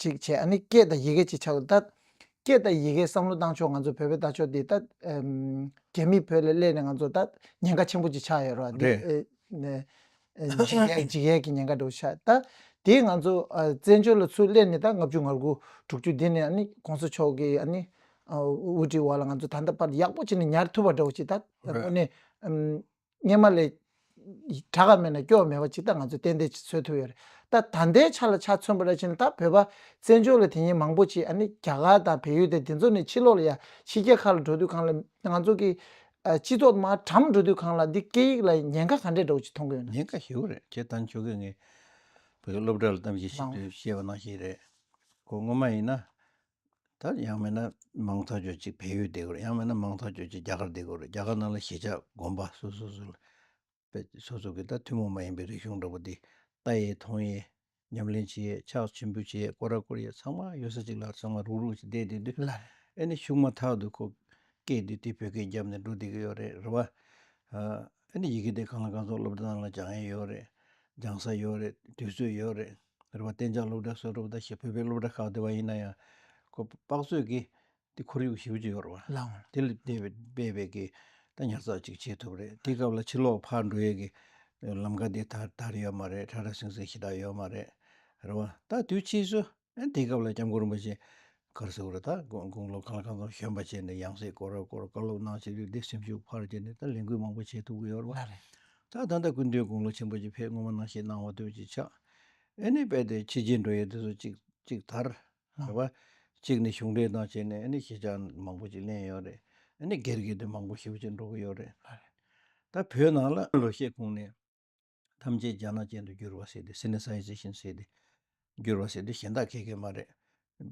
Speaker 1: ཅིག་བྱས་ཨ་ནི་སྐད་དང་ཡི་གེ་ཅིག་ཆར་དུ་བཏགས། སྐད་དང་ཡི་གེ་བསམ་བློ་བཏང་ཆོག་ང་ཚོ་བོད་པའི་ལྟ་ཕྱོགས་འདི་ལྟ། རྒྱ་མིས་བོད་ལ་གླས་ནས་ང་ཚོ་ལྟ་ཉེན་ཁ་ཆེན་པོ་ཅིག་ཆགས་ཡོད་རོགས། འདི་འཇིགས་ཡེལ་གྱི་ཉེན་ཁ་འདྲ་བོ་ཆགས་ལྟ། དེས་ང་ཚོ་བཙན་བྱོལ་ལ་ཚུར་གླས་ནས་ད་ལྔ་བཅུ་ང་དགུ་དྲུག་ཅུ་འདི་ནས་ཨ་ནི ྋགོང་ས་མཆོག་གི་ཨ་ནི་དབུ་ཁྲིད་འོག་ལ་ང་ཚོ་ད་ལྟ་བར་ཡག་པོ་ཅིག་ནས་ཉར་ཐུབ་པ་འདྲ་བོ་ཅིག་ལྟ། དངོས་གནས། སྙེ་མ་ལས། བྲག་ག་མེད་ན་སྐྱོ་བ་མེད་པ་ཅིག་ད་ང་ཚོས་གཏན་བདེ་ཚོད་ཐུབ་ཡོད་རེད་ད། ད་ལྟའི་ཆ་ལ་ཆ་མཚོན་པ་ར་བྱིན་ད་བོད་པ་བཙན་བྱོལ་ལ་དེ་ཉིན་མང་པོ་ཆེ་ཨ་ནི་རྒྱ་གར་དང་བལ་ཡུལ་དང་དེ་ཚོ་ནས་ཕྱི་ལོག་ལ་ཡ་ཕྱི་རྒྱ་ཁ་ལ་འགྲོ་དུས་གང་ལ་ང་ཚོ་གི། སྤྱི་ཚོགས་དམའ་གྲམ་འགྲོ་དུས་གང་ལ་འདི་སྐད་ཡིག་ལ་ཉེན་ཁ་ག་འདྲས་འདྲ་བོ་ཅིག་མཐོང་གི་ཡོད་ན། ཉེན་ཁ་ཞེ་བོ་རེད་ཁྱེད་
Speaker 2: ལྟ་མཆོག་གིས་ངའི། བོད་སློབ་གྲྭ་ལ་གཏམ་བཤད་བྱེད་དུས་བཤད་པ་ནང་བཞིན་རེད། ཁོ་སྔོན་མ་ཡིན་ན། ད་ཡང་མིན་ན་མང་ཐག་ཆོད་ཅིག་བལ་ཡུལ་བསྡད་དགོས་རེད་ཡང་མིན་ན་མང་ཐག་ཆོད་ཅིག་རྒྱ་གར་བསྡད་དགོས་རེད་རྒྱ་གར་ནང་ལ་གཞིས་ཆགས་དགོན་པ་སོ་སོ་སོ་ལ་དཔེ་སོ་སོ་གི་ད་ཐུན་མོང་མ་ཡིན་པའི་རིག་གཞུང་འདྲ་པོ་འདི་ལྟ་ཡས་མཐོང་ཡས་ཉམས་ལེན་བྱེད་ཡས་ཕྱག་ཆེན་པོ་བྱེད་ཡས་བསྐོར་ར་བསྐོར་ཡས་ཚང་མ་ཡོད་ས་ཅིག་ལ་ཚང་མ་རུག་རུག་ཅིག་བསྡད་དེ་དུས་ཨེ་ནི་ཞུགས་
Speaker 1: མ་ཐག་
Speaker 2: ཏུ་ཁོ་སྐད་དུས་དེ་བོད་སྐད་རྒྱབ་ནས་འགྲོ་བསྡད་ཀྱི་ཡོད་རེད་རེད་བ། ཨེ་ནི་ཡི་གེ་དེ་གང་ལ་གང་ཚོགས་སློབ་གྲྭ་ནང་ལ་སྦྱང་ཡས་ཡོད་རེད་སྦྱང་ས་ཡོད་རེད་དུས་ཚོད་ཡོད་རེད། རེ་བ་གཏན་འཇགས་སློབ་གྲྭ་གསོ་རུབ་བརྡ་ཞེས་བོད་པའི་སློབ་གྲྭ་ཁག་བསྡུས་པ་ཡིན་ན་ཡང། ཁོ་པ་པགས་བཟོས་ཀྱིས་དེ་ཁོར་ཡུག་ཞིབ་ཅིག་ཡོར་བ། དེ་ལས་འདས་པའི་
Speaker 1: དཔེ་
Speaker 2: བེད་ཀྱི་ད་ཉར་ཚགས་ཅིག་བྱེད་ཐུབ་རེད་དེའི་སྐབས་ལ་ཕྱི་ལོག་ཕར་འགྲོ་ཡས་ཀྱི་ལམ་ཁ་དེ་དར་དར་ཡོད་མ་རེད་ཁྲ་ཁྲ་སིང་སིང་ཞེ་དྲག་ཡོད་མ་རེད། རེ་བ། ད་དུས་ཕྱིས་སུ། དེའི་སྐབས་ལ་སྐྱབས་མགོན་རིན་པོ་ཆེ་ཀར་སེའུ་ར་དང་དགུང་ལོ་གང་ལ་གང་འཚམ་གཞོན་པ་བྱས་ནས་ཡང་སྲིད་སྐོར་ར་སྐོར་བཀའ་སློབ་གནང་ཕྱིར་རིགས་སྡེ་སེམས་ཤུགས་འཕར་བྱས་ནས་ད་ལས་འགུལ་མང་པོ་བྱེད་ཐུབ་ཀྱི་ཡོད་རེད་པ། ད་ད་
Speaker 1: ལྟ་སྐུ་
Speaker 2: མདུན་དགུང་ལོ་ཆེན་པོ་ཆེ་ཕེབས་སྔོན་མ་ནང་བཞིན་གནང་བ་དོན་གཅིག་ཆགས། ཨེ་ནི་དཔལ་ལྡན་ཕྱི་རྒྱལ་འགྲོ་ཡས་དེ་ཚོ་ཅིག་ཅིག་དར། རེད་པ། གཅིག་ནི་གཞུང་འབྲེལ་དང་བྱས་ནས་ཨེ་ནི་ཁྱེད་ཅག་མང་པོ་ཅིག་གླེང་ཡོད་རེད། ཨེ་ནི་སྒེར་སྒེར་དུ་མང་པོ་ཞིབ་ཅིག་འགྲོ་གི་ཡོད་རེད། ད་བོད་ནང་ལ། ལོ་ཤས་གོང་ནས། ཐམས་ཅད་རྒྱ་ནག་ཅན་དུ་འགྱུར་བ་སྲིད་དེ་སེམས་ནི་ས་ཡི་རྩི་བཞིན་སྲིད་དེ། འགྱུར་བ་སྲིད་དེ་གཞན་དག་ཁེགས་ཀྱི་མ་རེད།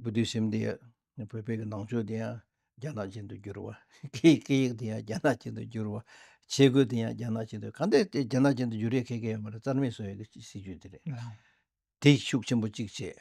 Speaker 2: བུ་དུས་སེམས་དེ་ཡང་བོད་པའི་གི་ནང་ཆོས་དེ་ཡང་རྒྱ་ནག་ཅན་དུ་འགྱུར་བ། ཁེའི་སྐད་ཡིག་དེ་ཡང་རྒྱ་ནག་ཅན་དུ་འགྱུར་བ། ཆས་གོས་དེ་ཡང་རྒྱ་ནག་ཅན་དུ་གང་འདི་དེ་རྒྱ་ནག་ཅན་དུ་འགྱུར་ཡས་ཁེགས་ཀྱི་ཡོད་མ་རེད་རྩར་མེད་བཟོ་ཡས་ཀྱི་སྲིད་ཇུས་དེ་རེད།
Speaker 1: དེས་ཤུགས་ཆེན་
Speaker 2: པོ་གཅིག་བྱས།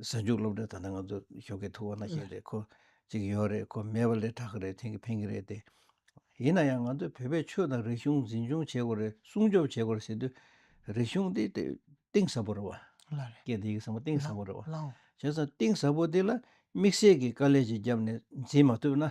Speaker 2: གཟའ་མཇུག་སློབ་གྲྭའི་ད་ལྟ་ང་ཚོ་ཞོགས་ཀྱི་ཐུག་བ་ན་ཞིག་རེད་ཁོ་གཅིག་ཡོད་རེད་ཁོ་མེད་པ་ལས་དྲག་གི་རེད་འཐེན་གི་འཕེན་གི་རེད་དེ། ཡིན་ན་ཡང་ང་ཚོས་བོད་པའི་ཆོས་དང་རིག་གཞུང་འཛིན་སྐྱོང་བྱེད་དགོས་རེད་སྲུང་སྐྱོབ་བྱེད་དགོས་རེད་ཟེར་དུས། རིག་གཞུང་དེ་གཏིང་ཟབ་པོ་རེད་བ། སྐད་དེ་ཡིག་ཟབ་མོ་གཏིང་ཟབ་པོ་རེད་བ། བྱས་ཙང་གཏིང་ཟབ་པོ་དེ་ལ་དམིགས་བསལ་གྱི་དཀའ་ལས་ཅིག་བརྒྱབ་ནས་འཛིན་མ་ཐུབ་ན།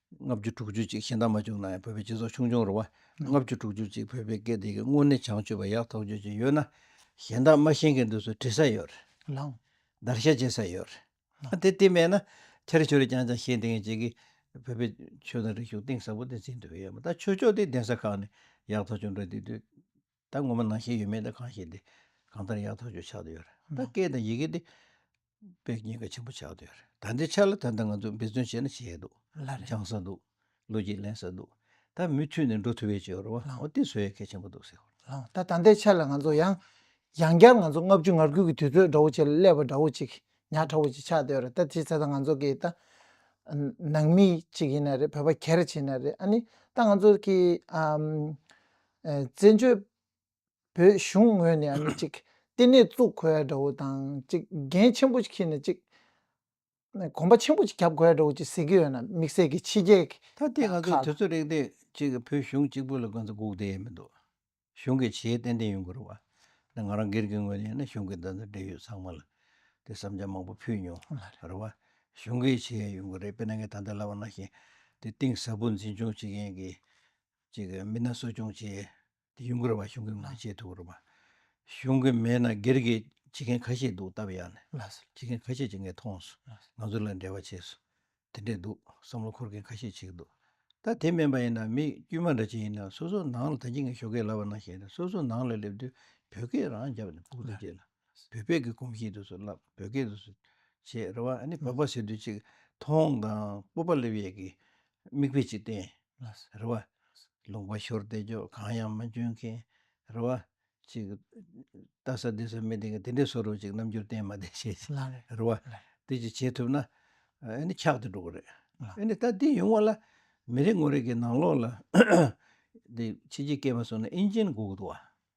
Speaker 2: ལྔ་བཅུ་དྲུག་ཅུ་གཅིག་ཤིང་རྟ་མ་བྱུང་ན་ཡང་བོད་པའི་སྤྱི་ཚོགས་ཆུང་ཆུང་རུ་བ། ལྔ་བཅུ་དྲུག་ཅུ་གཅིག་བོད་པའི་སྐད་བདེ་གི་དངོས་གནས་བྱང་ཆུབ་པ་ཡག་ཐོག་རྗོད་ཀྱི་ཡོད་ན། གཞན་དག་སྨྲ་ཤེས་མཁན་དུ་སུ་བྲིས་ས་ཡོད། ལངས། བརྡར་
Speaker 1: ཤ་བཅད་ས་
Speaker 2: ཡོད། དེ་བལྟས་མེད་ན། ཁྱེད་ཆོས་རིག་རྐྱང་རྐྱང་ཤེས་འདི་ངས་བྱེད་ཀི། བོད་པའི་ཆོས་དང་རིག་གཞུང་གཏིང་ཟབ་པོ་དེ་འཛིན་འདོད་ཡོད་མ་ད་ཆོས་ཕྱོགས་དེ་གདན་ས་ཁག་ནས་ཡག་ཐོག་བྱུང་འདྲ་འདི་དུས། ད་ངོ་མ་ནང་ཞེན་ཡོད་མེད་དང་གང་ཞིག་དེ་གང་ལྟར་ཡག་ཐག་ཆོད་ཆགས་འདོད་ཡོད་རེད་ད་སྐད་དང་ཡི་གེ་དེ་དཔེ་རྙིང་ག་ཆེན་པོ་ཆགས་འདོད་ཡོད་རེད་ད་འདི་ཆ་ལ་ད་ལྟ་ང་ཚོ་འབད་བརྩོན་བྱས་ན་བྱས་འདུག་སྦྱང་ས་འདུག་ལོ་རྒྱུས་གླེང་ས་འདུག་ད་མུས་མཐུད་ནས་འགྲོ་ཐུབ་བའི་ཆེད་རོ་བ་འོ་དེ་བཟོ་ཡ་གལ་ཆེན་པོ་འདུག་ཟེར། ད་ད་ལྟའི་ཆ་
Speaker 1: ལ་ང་ཚོ་ཡང་ཡང་བསྐྱར་ང་ཚོ་ལྔ་བཅུ་ང་དགུ་གི་དུས་ཚོད་འདྲ་བོ་ཆེ་ལ་སླེབས་པ་འདྲ་བོ་ཅིག་ཉག་ཕྲ་བོ་ཅིག་ཆགས་འདོད་རེད་ད་དེ་ད་ལྟ་ང་ཚོ་གི་ད་ནང་མི་ཅིག་ཡིན་ན་རེད་བོད་པ་གྱེར་བྱས་ན་རེད་ཨ་ནི་ད་ང་ཚོ་གི་བཙན་བྱོལ་བོད་གཞུང་ངོས་ནས་ནི་ཅིག་ལྟེ་གནས་བཙུགས་གོ་ཡ་འདྲ་བོ་དང་ཅིག་འགན་ཆེན་པོ་ཞིག་ཁྱེར་ནས་ཅིག་གོམ་པ་ཆེན་པོ་ཅིག་བརྒྱབ་གོ་ཡ་འདྲ་བོ་ཅིག་ཟེར་གྱི་ཡོད་ན་དམིགས་བསལ་གྱི་ཕྱི་རྒྱལ་གྱི་ད་ལྟའི་ང་ཚོའི་དུས་
Speaker 2: ཚོད་རིང་དེ་ཅིག་བོད་གཞུང་གཅིག་པུ་ལ་དགོན་ས་འགུགས་བསྡད་ཡ་མི་འདུག་གཞུང་གི་བྱེད་ཡ་ཏན་ཏན་ཡོང་དགོས་རུང་བ་དེ་ང་རང་སྒེར་གྱི་ངོས་ནས་ཡིན་ན་གཞུང་གི་འདི་འདྲ་འབྲེལ་ཡོད་ཚང་མ་ལ་དེ་བསམ་འཆར་མང་པོ་ཕུལ་མྱོང་རུང་བ་གཞུང་གི་བྱེད་ཡ་ཡོང་གི་རེད་དཔེར་ན་ངས་ད་ལྟ་ལབ་པ་ན་ཞིང་དེ་གཏིང་ཟབ་པོ་འཛིན་སྐྱོང་བྱེད་མཁན་གྱི་གཅིག་གིས་མི་སྣ་གསོ་སྐྱོང་བྱས། དེ་ཡུན་འགོར་བ་གཞུང་གིས་མ་བྱས་ཐུགས་ཁུར་བ། གཞུང་གིས་མེད་ན་སྒེར་གྱིས་བྱེད་མཁན་ཁ་ཤས་འདུག་སྟབས་ཡག་ནས་བྱེད་མཁན་ཁ་ཤས་ཀྱིས་ངས་མཐོང་སོང་ང་ཚོ་ལ་འབྲེལ་བ་བྱས་སོང་དེ་འདྲས་འདུག་བསམ་བློ་འཁོར་མཁན་ཁ་ཤས་བྱེད་ཀྱི་འདུག་ད་དེ་མིན་པ་ཡིན་ན་མི་དཀྱུས་མ་འདྲ་ཅན་ཡིན་ན་སོ་སོ་ནང་ལ་ད་ཁྱེད་ངས་ཞོགས་སྐད་ལབ་པ་ན་ཞེས་ནས་སོ་སོ་ནང་ལ་སླེབས་དུས་བོད་སྐད་རང་རྒྱབ་ནས་ཕུགས་བསམ་བསྐྱེད་ལ། བོད་སྐད་ཀྱི་གོམས་གཤིས་འདུག་ཚུལ་བསླབ་བོད་སྐད་དུ་བྱེད་རེ་བ་ནི་བོད་པ་ཟེར་དུས་གཅིག་མཐོང་དང་སྤོབས་པ་སླེབས་ཡས་ཀྱི་མིག་དཔེ་གཅིག་བསྟན་རེ་བ། ལུང་པ་ཤོར་བལྟས་ཆོག་གང་ཡང་མ་འཇོན་མཁན་རེ་བ། གཅིག་ལྟ་ས་འདི་ས་མི་བདེན་གི་དེ་འདྲའི་བཟོ་རུ་གཅིག་རྣམ་འགྱུར་བསྟན་མ་བསྟན་བྱས་རེ་བ། དེ་གཅིག་བྱེད་ཐུབ་ན་ཨ་ནི་ཁྱག་ཏུ་འགྲོ་གི་རེད། ཨ་ནི་ད་འདི་ཡོང་བ་ལ་མི་རེ་ངོ་རེ་གི་ནང་ལོགས་ལ་འདི་ཕྱི་ཕྱི་སྐད་མ་གསུང་ན་ཨིན་ཇིན་འགུག་འདུག་བ།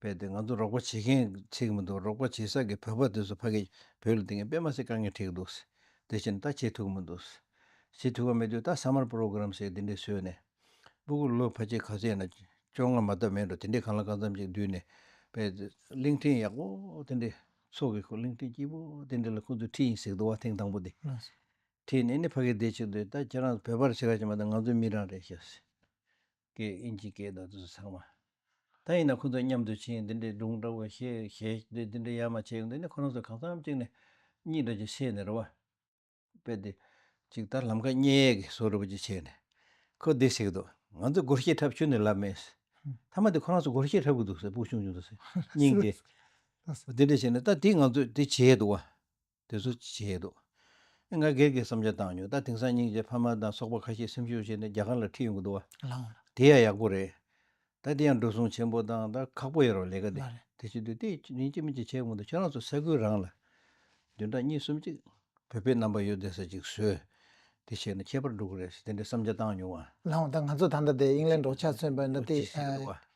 Speaker 2: པས་དེ་ང་ཚོ་རོགས་པ་བྱེད་མཁན་ཚིག་མི་འདུག་རོགས་པ་བྱེད་ས་གི་བོད་པ་དེ་ཚོ་ཕ་གི་བོད་ལ་དེ་ངས་དཔེ་མ་ཟེར་དཀའ་ངལ་འཁྲིགས་འདུག་ཟེར་དེ་བཞིན་ད་བྱེད་ཐུག་མི་འདུག་ཟེར་བྱེད་ཐུག་ག་མེད་དུས་ད summer program ཟེར་དེ་འདྲས་བཟོས་ནས་སྤུ་གུ་ལོ་ཕ་ཆེ་ག་ཚོད་ཡིན་ན་བཅོ་ལྔ་མ་ཐབས་མེད་འགྲོ་དེ་འདྲས་གང་ལ་གང་འཚམ་ཅིག་བསྡུས་ནས་པས་དེ་གླིང་ཕྲན་ཡག་པོ་དེ་འདྲས་ཚོགས་ཀི་གླིང་ཕྲན་སྐྱིད་པོ་དེ་འདྲས་ལ་ཁོ་ཚོས་འཁྲིད་ཡིན་ཟེར་གི་འདུག་བ་ཐེངས་དང་པོ་དེ་འཁྲིད་
Speaker 1: ནས་ནི་ཕ་གི་
Speaker 2: དེ་བྱེད་དུས་ད་ཁྱེད་རང་བོད་པར་བྱེད་ག་ཅིག་མ་ད་ང་ཚོ་མི་རང་རེད་ཤག་ཟེར། ཀའི་ཨིན་ཇི་སྐད་དང་དུས་སུ་ཚང་མ། ད་ཡིན་ན་ཁོ་ཚོ་མཉམ་དུ་ཕྱིན་འདི་འདྲའི་སྒྲུང་འདྲ་བོ་ཞེས་ཞེས་འདི་འདྲའི་ཡ་མ་བྱས་འདི་ནི་ཁོ་རང་ཚོ་གང་འཚམས་གཅིག་ནས་གཉིས་འདྲ་ཅིག་ཤེས་ནས་རེ་བ་སྤེལ་ཏེ། ཅིག་ལྟར་ལམ་ཁ་སྙེ་ཡས་ཀྱི་སོ་རུ་བ་ཅིག་བྱས་ནས། ཁོ་བདེ་བྱེད་ཀྱི་འདུག་ང་ཚོས་སྒོར་གཞས་འཁྲབ་ཆུ་ནས་ལབ་མེད། མཐའ་མ་དེ་ཁོ་རང་ཚོ་སྒོར་གཞས་འཁྲབ་ཀྱི་འདུག་ཟེར་སྤུ་ཆུང་ཆུང་དུ་སྙིང་དེ། འདི་འདྲ་བྱས་ནས་ད་དེ་ང་ཚོས་དེ་བྱས་འདུག་བ། དེ་ཚོ་བྱས་ཡོད་འདུག་ང་སྒེར་གྱི་བསམ་འཆར་བཏང་ཡོད་ད་དེང་སང་སྙིང་རྗེ་ཕ་མ་དང་ཚོགས་པ་ཁ་ཤས་སེམས་ཤུགས་བྱས་ནས་རྒྱ་གར་ལ་ཁྲིད་ཡོང་གི་འདུག་བ། དེ་ཡང་ཡག་
Speaker 1: པོ་
Speaker 2: རེད། ད་དེ་ཡང་འགྲོ་སོང་ཆེན་པོ་དང་ད་ཁག་པོ་ཡོད་རོགས་ལས་ཀ་དེ་དེ་བྱེད་དུས་དེ་
Speaker 1: ཡིན་
Speaker 2: གཅིག་མིན་གཅིག་བྱས་གོང་དུ་ཁྱེད་རང་ཚོ་ས་ཁུལ་རང་ལ། བདུན་ཕྲག་གཉིས་གསུམ་གཅིག་བོད་པའི་རྣམ་པ་ཡོད་བསྡད་ས་ཅིག་བཟོས། དེ་བྱས་ན་ཁྱད་པར་འགྲོ་གི་རེད་ཟེར་དེ་འདྲའི་བསམ་འཆར་བཏང་མྱོང་བ། ལའང་ད་ང་ཚོ་ད་ལྟ་
Speaker 1: དེ་ཡིན་ལས་འབྲོག་ཆ་མཚོན་པ་ན་དེ།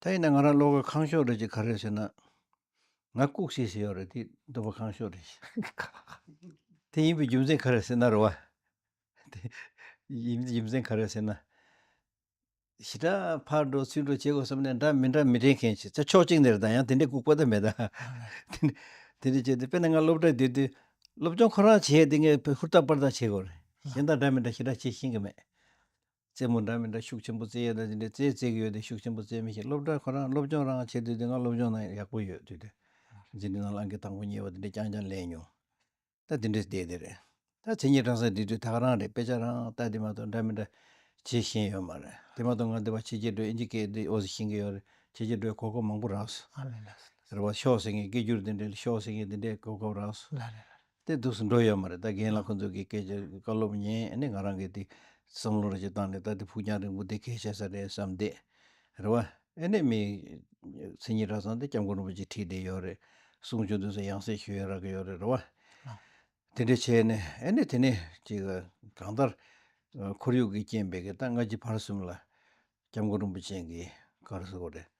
Speaker 2: ད་ཡིན་ན་ང་རང་བློ་དགའ་ཁང་ཤོག་རེད་ཅེས་ག་རེ་ཟེར་ན། ང་ལྐུགས་ཤེས་ཞེས་ཡོད་རེད་དེ་འདུན་པ་ཁང་ཤོག་རེད་ཅེས། དེ་ཡིན་པའི་རྒྱུ་མཚན་ག་རེ་ཟེར་ན་རེད་བ། དེ་ཡིན་པའི་རྒྱུ་མཚན་ག་རེ་ཟེར་ན། ཞི་དྲག་ཕར་འགྲོ་ཚུར་འགྲོ་བྱེད་དགོས་བསམ་ནས་འདྲ་མི་འདྲ་མི་དྲན་མཁན་ཞིག་ཚེ་ཕྱོགས་གཅིག་ནས་རེད་དང་ཡང་དེ་འདྲའི་ལྐུགས་པ་དེ་མེད་ད། དེ་འདྲ་བྱས་ཏེ་དཔེར་ན་ང་སློབ་གྲྭའི་དུས་དུས་སློབ་སྦྱོང་ཁོ་རང་བྱས་ཏེ་ངས་ཧུར་ཐག་པར་ཐག་བྱེད་དགོས་རེད། གཞན་དང་འདྲ་མི་འདྲ་ཞི་དྲག་བྱེད་ཤེས་ཀྱི་མེད། རྩེད་མོ་འདྲ་མི་འདྲ་ཤུགས་ཆེན་པོ་རྩེ་ཡས་ན་ཅི་འདྲའི་རྩེ་རྩེ་གི་ཡོད་དེ་ཤུགས་ཆེན་པོ་རྩེ་མི་ཤེས་སློབ་གྲྭ་ཁོ་རང་སློབ་སྦྱོང་རང་བྱེད་དུས་དེ་སྔ་སློབ་སྦྱོང་ནང་ཡག་པོ་ཡོད་དུས་དེ་ཟིན་དུས་ནང་ལ་འགི་དང་པོ་ཉེས་པ་དེ་འདྲའི་རྐྱང་རྐྱང་ལས་མྱོང། ད་དེ་འདྲའི་བལྟས་དེ་རེད། ད་ཚེ་ཉིན་གྲངས་གསར་འབྲི་དུས་དག་རང་རེད་དཔེ་ཆ་རང་ལྟ་དེ་མ་གཏོགས་འདྲ་མི་འདྲ་བྱེད་ཤེས་ཡོད་མ་རེད་དེ་མ་གཏོགས་ང་འདི་བ་ཕྱི་རྒྱལ་སྒྲོལ་ཨིན་ཇི་ཀའི་འདི་ཨོ་ཟི་ཤིང་གི་ཡོད་རེད་ཕྱི་རྒྱལ་སྒྲོལ་གོ་སྐབས་མང་པོ་རགས་སོ། རེད་བ་ཤོག་ཟེར་ངེས་སྐད་སྒྱུར་དེ་འདྲའི་ཤོག་ཟེར་ངེས་དེ་འདྲའི་གོ་སྐབས་རགས་སོ། སྟེ་འདུག་སུ་འགྲོ་ཡོད་མ་རེད་ད་རྒན་ལགས་ཁོང་ཚོས་གི་སྐད་ཆ་བཀའ་སློབ་ཉན་ནི་ང་རང་གི་དེ་བསམ་བློ་རེ་ཅིག་བཏང་ནས་ད་དེ་ཕུགས་རྒྱང་རིང་པོ་དེ་གས་བྱས་ས་རེད་བསམ་བསྡད་རེད་བ། ཨེ་ནས་མི་མཚན་ཉིད་གྲྭ་ཚང་དེ་སྐྱབས་མགོན་རིན་པོ་ཆེ་ཁྲིད་བསྡད་ཡོད་རེད་གསུང་བྱུང་དུས་སུ་ཡང་སེ་ཞུ་ཡོད་རག་གི་ཡོད་རེད་རེད་བ། དེ་འདྲས་བྱས་ནས་ཨེ་ནས་དེ་ནས་ཅིག་གང་ལྟར་ཁོར་ཡུག་གི་རྐྱེན་པས་གི་ད་སྔ་ཕྱི་བར་གསུམ་ལ་སྐྱབས་མགོན་རིན་པོ་ཆེན་གི་གར་སོ་རེད་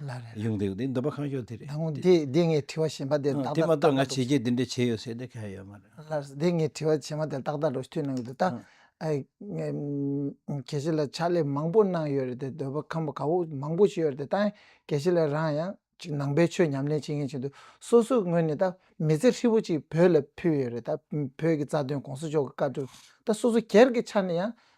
Speaker 2: ལ་རེད། གཞུང་དེ་འདི་འདོད་པ་གང་ཤོག་དེ་རེད། ད་དགོང་འདི་འདི་ངས་
Speaker 1: དྲི་བ་ཞེན་པ་དེ་ཏག་ཏག་ཏག་ཏག་འདུག། དེ་མ་གཏོགས་ང་བྱས་རྗེས་
Speaker 2: འདི་འདྲ་བྱས་ཡོད་ཟེར་དེ་ག་ཡོད་མ་རེད། ལར་འདི་ངས་དྲི་བ་
Speaker 1: ཞེན་པ་དེ་ཏག་ཏག་འགྲོ་ཐུས་གནང་གི་འདུག་ད། གལ་སྲིད་ལ་ཕྱག་ལས་མང་པོ་གནང་ཡོད་རེད་དེ་འདོད་པ་ཁམས་པ་ག་བོ་མང་པོ་བྱས་ཡོད་རེད་དེ་ད་གལ་སྲིད་ལ་རང་ཡང་ཅིག་ནང་པའི་ཆོས་ཉམས་ལེན་བྱེད་མཁན་ཅིག་འདུག་སོ་སོའི་ངོས་ནས་ད་མི་ཚེ་ཧྲིལ་བོ་ཅིག་བོད་ལ་ཕུལ་ཡོད་རེད་ད་བོད་ཀྱི་རྩ་དོན་གོང་ས་མཆོག་གི་བཀའ་དྲིན་ད་སོ་སོ་སྒེར་གྱི་ཆ་ནས་ཡང་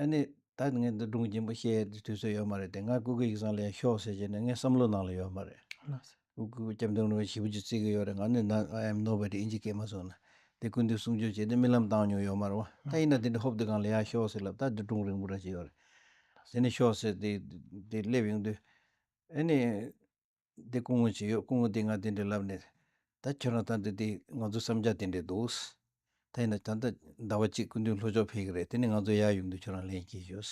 Speaker 2: ཨ་ནི། ད་ངས་འདི་སྒྲུང་རྒྱུན་པོ་བཤད་རྒྱུའི་དུས་ཚོད་ཡོད་མ་རེད་དེ་ང་ཀུ་ཀུ་ཡིག་ཚང་ལེན་ཤོག་ཟེར་རྒྱུ་ནི་ངའི་བསམ་བློའི་ནང་ལ་ཡོད་མ་རེད། ཀུ་ཀུ་སྐྱབས་མགོན་ནོར་བུ་ཞི་བུ་ཅིག་བརྩི་གི་ཡོད་རེད་ང་ནི་ན I am nobody ཨིན་ཇི་སྐད་མ་གསུངས་ན་དེ་སྐུ་མདུན་གསུང་ཆོས་བྱས་ཏེ་རྨི་ལམ་བཏང་མྱོང་ཡོད་མ་རེད་བ་ད་ཡིན་ན་དེ་འདྲའི་ཧོབ་དེ་གང་ལ་ཡག་ཤོག་ཟེར་ལབ་ད་འདི་སྒྲུང་རིང་པོ་འདྲ་ཞིག་ཡོད་རེད་དེ་ནས་ཤོག་ཟེར་དེ་དེ་སླེབས་ཡོང་དུས་ཨ་ནི། འདི་སྐུ་ངོ་ཅི་ཡོད་སྐུ་ངོ་འདི་ང་དེ་འདྲས་ལབ་ནས། ད་ཁྱོད་རང་ད་འདི་འདི་ང་ཚོ་བསམ་རྒྱག་དེ་འདྲས་འདུག། ད་ཡིན་ན་ད་ལྟ་ཟླ་བ་གཅིག་སྐུ་མདུན་ལྷོ་ཕྱོགས་ཕེབས་ཀྱི་རེད་དེ་ནས་ང་ཚོ་ཡར་ཡོང་དུས་ཁྱོད་རང་ལེན་གྱིས་ཡོད།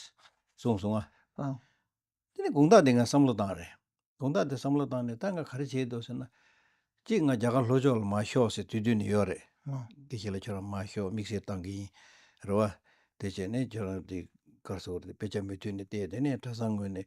Speaker 2: གསུངས་སོང་ང། བཏང།
Speaker 1: དེ་ནས་དགུང་རྟགས་
Speaker 2: འདི་ང་བསམ་བློ་བཏང་རེད། དགུང་རྟགས་འདི་བསམ་བློ་བཏང་ནས་ད་ང་ག་རེ་བྱེད་འདོད་ཟེར་ན། གཅིག་ང་རྒྱ་གར་ལྷོ་ཕྱོགས་ལ་མ་ཤོག་ཟེར་དུས་དུས་ནས་ཡོད་རེད། འདི་ཞིག་ལ་ཁྱོད་རང་མ་ཤོག་དམིགས་བསལ་བཏང་གི་ཡིན། རེད་བ། དེ་བྱས་ནས་ཁྱོད་རང་འདི་སྐར་ཚོགས་དེ་དཔེ་ཆ་མུ་མཐུད་ནས་བལྟས་དེ་ནས་གྲྭ་ཚང་ངོས་ནས་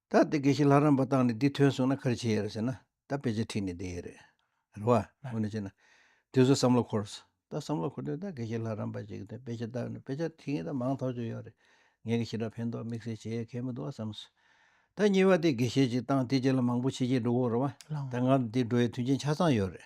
Speaker 2: ད་དེ་དགེ་བཤེས་ལྷ་རམས་པ་བཏང་ནས་འདི་ཐོན་སོང་ན་ག་རེ་བྱེད་ཡས་རེད་ཟེར་ན་ད་དཔེ་ཆ་ཁྲིད་ནས་བསྡད་ཡས་རེད་རེད་བ། འོ་ན་བྱས་ན་དེ་ཚོ་བསམ་བློ་འཁོར། ད་བསམ་བློ་འཁོར་དུས་ད་དགེ་བཤེས་ལྷ་རམས་པ་ཞིག་གིས་དཔེ་ཆ་བཏང་ནས་དཔེ་ཆ་ཁྲིད་མཁན་ད་མང་ཐོག་ཆོད་ཡོད་རེད། ངས་ཀྱི་ཞེ་དྲག་ཕན་ཐོག་དམིགས་བསལ་བྱེད་ཡས་ཁས་མི་འདུག་བ་བསམ་སོང། ད་གཉིས་པ་དེ་དགེ་བཤེས་ཅིག་བཏང་དེ་རྗེས་ལ་མང་པོ་ཕྱི་རྒྱལ་འགྲོ་དགོས་རེད་བ། ད་ང་ཚོ་འདིར་འགྲོ་ཡས་མཐུན་རྐྱེན་ཆ་ཚང་ཡོད་རེད།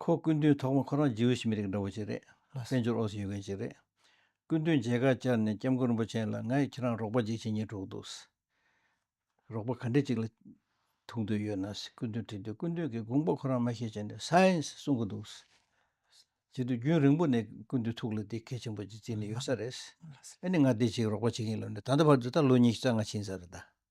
Speaker 2: ཁོ་སྐུ་མདུན་ཐོག་མ་ཁོ་རང་རྗེའུ་ཞི་མི་རིགས་འདྲ་བོ་ཅིག་རེད་ལ་བཙན་བྱོལ་ཨོ་སི་ཡོད་མཁན་ཅིག་རེད། སྐུ་མདུན་མཇལ་ཁ་བཅར་ནས་སྐྱབས་མགོན་རིན་པོ་ཆེན་ལ་ང་ཡིས་ཁྱེད་རང་རོགས་པ་འཇིགས་བྱེད་གཉིས་དཀྲུགས་འདུག། རོགས་པ་ག་འདྲི་ཅིག་ལ་ཐུག་འདོད་ཡོད་ན་སྐུ་མདུན་དྲིས་དུས་སྐུ་མདུན་གྱིས་དགོངས་པ་ཁོ་རང་མ་ཤེས་བྱས་ནས་སཱིནས་གསུང་གི་འདུག། བྱེད་དུས་རྒྱུན་རིང་པོ་ནས་སྐུ་མདུན་ཐུགས་ལ་འདི་གལ་ཆེན་པོ་ཅིག་བརྩིས་ནས་ཡོད་ས་རེད། ཨ་ནི་ང་འདི་ཅིག་རོགས་པ་བྱེད་ཀྱིན་ལབ་ནས་ད་ལྟ་བར་དུ་ད་ལོ་ཉིས་བརྒྱ་རྩ་ལྔ་ཕྱིན་ས་རེད་ད།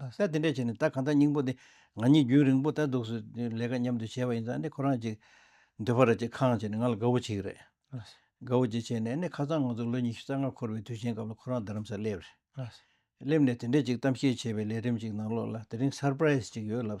Speaker 2: ལྷ་སའི་དེ་འདྲས་བྱས་ནས་ད་གང་ལྟར་སྙིང་པོ་འདི་ང་གཉིས་རྒྱུན་རིང་པོ་ལྟ་འདུག་སུ་ལས་ཀ་མཉམ་དུ་བྱས་པ་ཡིན་ཙང་ནི་ཁོ་རང་ཅིག་འདོད་པ་རེད་ཅེས་ཁང་བྱས་ནས་ང་ལ་དགའ་བོ་བྱེད་ཀྱི་རེད། དགའ་བོ་བྱེད་བྱས་ནས་ནི་ཁ་སང་ང་ཚོ་ལོ་ཉི་ཤུ་རྩ་ལྔ་འཁོར་བའི་དུས་ཆེན་སྐབས་ལ་ཁོ་རང་རྡ་རམ་ས་ལ་སླེབས་རེད། སླེབས་ནས་དེ་འདྲས་ཅིག་གཏམ་བཤད་བྱས་པའི་ལས་རིམ་ཅིག་ནང་ལོགས་ལ་དེ་རིང Surprise ཅིག་ཡོད་ལབ།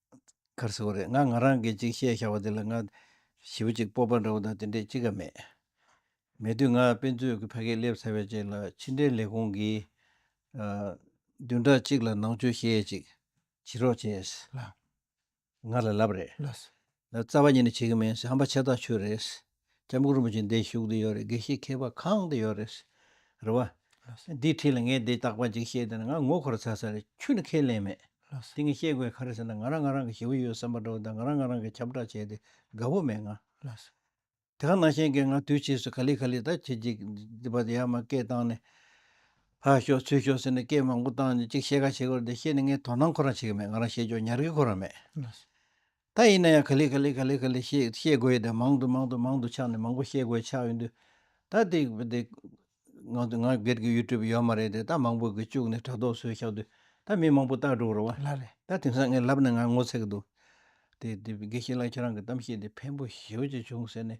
Speaker 2: ཁར་ཟེར་བ་རེད་ང་ང་རང་གིས་ཅིག་བཤད་བཞག་པ་དེ་ལ་ང། ཞི་བ་ཅིག་སྤོབས་པ་འདྲ་བོ་དང་དེ་འདྲས་ཅི་ག་མེད། མེད་དུས་ང་དཔེ་མཛོད་ཀྱི་ཕ་གིར་སླེབས་ཚར་བའི་རྗེས་ལ་ཕྱི་འབྲེལ་ལས་ཁུངས་ཀྱིས། བདུན་ཕྲག་གཅིག་ལ་ནང་ཆོས་བཤད་ཅིག་བྱེད་རོགས་བྱས། ང་ལ་ལབ་རེད། རྩ་བ་ཉིད་ནས་བྱེད་ཀྱི་མིན་ཧམ་པ་ཆེ་ཐག་ཆོད་རེད། སྐྱབས་མགོན་རིན་པོ་ཆེ་འདི་བཞུགས་དུ་ཡོད་རེད་དགེ་བཤེས་མཁས་པ་གང་དུ་ཡོད་རེད། རེད་བ། འདིའི་ཁྲིད་ལ་ངས་འདི་རྟག་པ་ཅིག་བཤད་དེ་ན་ང་ངོ་འཁོར་ཚར་ས་རེད་ཁྱོད་ནི་ཁས་ལེན་མེད། དེ་ངས་བཤད་དགོས་ག་རེད་ཟེར་ན་ང་རང་ང་རང་གི་ཞེ་བོ་ཡོད་བསམ་པ་འདྲ་བོ་དང་ང་རང་ང་རང་གི་ཁྱབ་བསྒྲགས་བྱས་ཏེ་དགའ་བོ་མེད་ང། དེ་ག་ནང་བཞིན་གྱི་ང་དུས་ཕྱིས་སུ་ག་ལི་ག་ལི་ད་བྱེད་ཅིག་འདི་བ་དེ་ཡར་མ་སྐད་བཏང་ནས། ཧ་ཤོག་ཚུད་ཤོག་ཟེར་ནས་སྐད་མང་པོ་བཏང་ནས་ཅིག་བཤད་ག་བྱེད་དགོས་རེད་དེ་བཤད་ནས་ངས་དོ་སྣང་ཁོ་རང་བྱེད་ཀྱི་མེད་ང་རང་བཤད་ཕྱོགས་ཉར་གི་ཁོ་རང་མེད། ད་ཡིན་ན་ཡང་ག་ལེ་ག་ལེ་ག་ལེ་ག་ལེ་ཞེས་བཤད་དགོས་ཡོད་དེ་མང་དུ་མང་དུ་མང་དུ་ཆགས་ནས་མང་པོ་བཤད་དགོས་ཆགས་ཡོད་འདུག་ད་དེ་དེ། ང་ང་སྒེར་གྱི YouTube ཡོད་མ་རེད་དེ་ད་མང་པོ་གིས་བཅུག་ནས་དྲ་ཐོག་བཟོས་ཤག་དུས་ད་མི་མང་པོ་ལྟ་འགྲོ་རོགས། ལ་རེ་ད་དེང་སང་ངས་
Speaker 1: ལབ་ན་
Speaker 2: ང་ངོ་ཚ་གི་འདུག་དེ་དེ་དགེ་བཤེས་ལགས་ཁྱེད་རང་གི་གཏམ་བཤད་དེ་ཕན་པོ་ཞེ་བོ་ཅིག་བྱུང་ཟེར་ནས་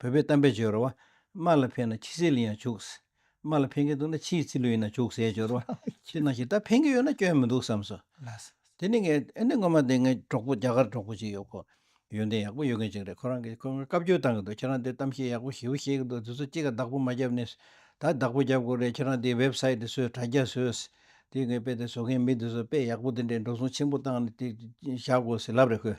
Speaker 2: བོད་པའི་གཏམ་དཔེ་སྦྱོར་བ། དམག་ལ་ཕན་ན་ཁྱི་སེར་ལ་ཡང་བྱུགས། དམག་ལ་ཕན་གྱི་འདུག་ན་ཁྱིའི་རྩི་ལུས་ཡིན་ན་བྱུགས་ཟེར་སྦྱོར་བ། ཁྱི་ནང་ཞིག་ད་ཕན་གྱི་ཡོད་ན་སྐྱོན་མི་འདུག་བསམས་སོ། དེ་ནས་ངས་ཨ་ནེ་ངོ་མ་དེ་ངའི་གྲོགས་པོ་རྒྱ་གར་གྲོགས་པོ་ཅིག་ཡོད་ཁོ། ཡོན་ཏན་ཡག་པོ་ཡོད་མཁན་ཅིག་རེད་ཁོ་རང་གིས་ཁོ་ངོ་བཀའ་བཀྱོན་བཏང་གི་འདུག་ཁྱེད་རང་དེ་གཏམ་བཤད་ཡག་པོ་ཞེ་བོ་བཤད་གི་འདུག་དེ་ཚོ་གཅིག་ག་བདག་པོ་མ་བརྒྱབ་ནས། ད་བདག་པོ་བརྒྱབ་དགོས་རེད་ཁྱེད་རང་དེའི་བེབ་སཱི་ཏི་བཟོས་དྲ་རྒྱ་བཟོས། དེ་ངའི་དཔེ་དེ་བཟོ་མཁན་མི་དེ་ཚོ་དཔེ་ཡག་པོ་དེ་འདྲའི་འགྲོ་སོང་ཆེན་པོ་བཏང་ནས་དེ་བཞག་དགོས་ཟེར་ལབ་རེད་ཁོས།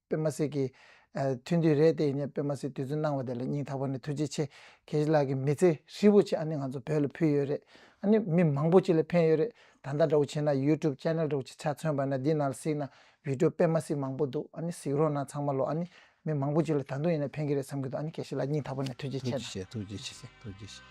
Speaker 1: པད་མ་སི་གིས། ཐུན་དུས་རེད་དེ་ངས་པད་མ་སི་དུས་ཚོད་གནང་བ་དེ་ལ་སྙིང་ཐག་པ་ནས་ཐུགས་རྗེ་ཆེ། ཁྱེད་ཀྱི་ལག་གི་མི་ཚེ་ཧྲིལ་བོ་ཆེ་ཨ་ནི་ང་ཚོ་བོད་ལ་ཕུལ་ཡོད་རེད། ཨ་ནི་མི་མང་པོ་ཆེ་ལ་ཕན་ཡོད་རེད། ད་ལྟ་འདྲ་བོ་བྱས་ན YouTube Channel འདྲ་བོ་ཆེ་ཆ་མཚོན་པ་ན་འདི་ནང་ལ་གཟིགས་ན Video པད་མ་སི་མང་པོ་འདུག་ཨ་ནི་གཟིགས་རོགས་གནང་ཚང་མ་ལོ་ཨ་ནི་མི་མང་པོ་ཆེ་ལ་ད་དུང་ཡིན་ན་ཕན་གྱི་རེད་བསམ་གྱི་འདུག་ཨ་ནི་ཁྱེད་ཀྱི་ལག་སྙིང་ཐག་པ་ནས་ཐུགས་རྗེ་ཆེ། ཐུགས་རྗེ་ཆེ་ཐུགས་རྗེ་ཆེ་ཐུགས་རྗེ་ཆེ་ཐུགས་རྗེ་ཆེ།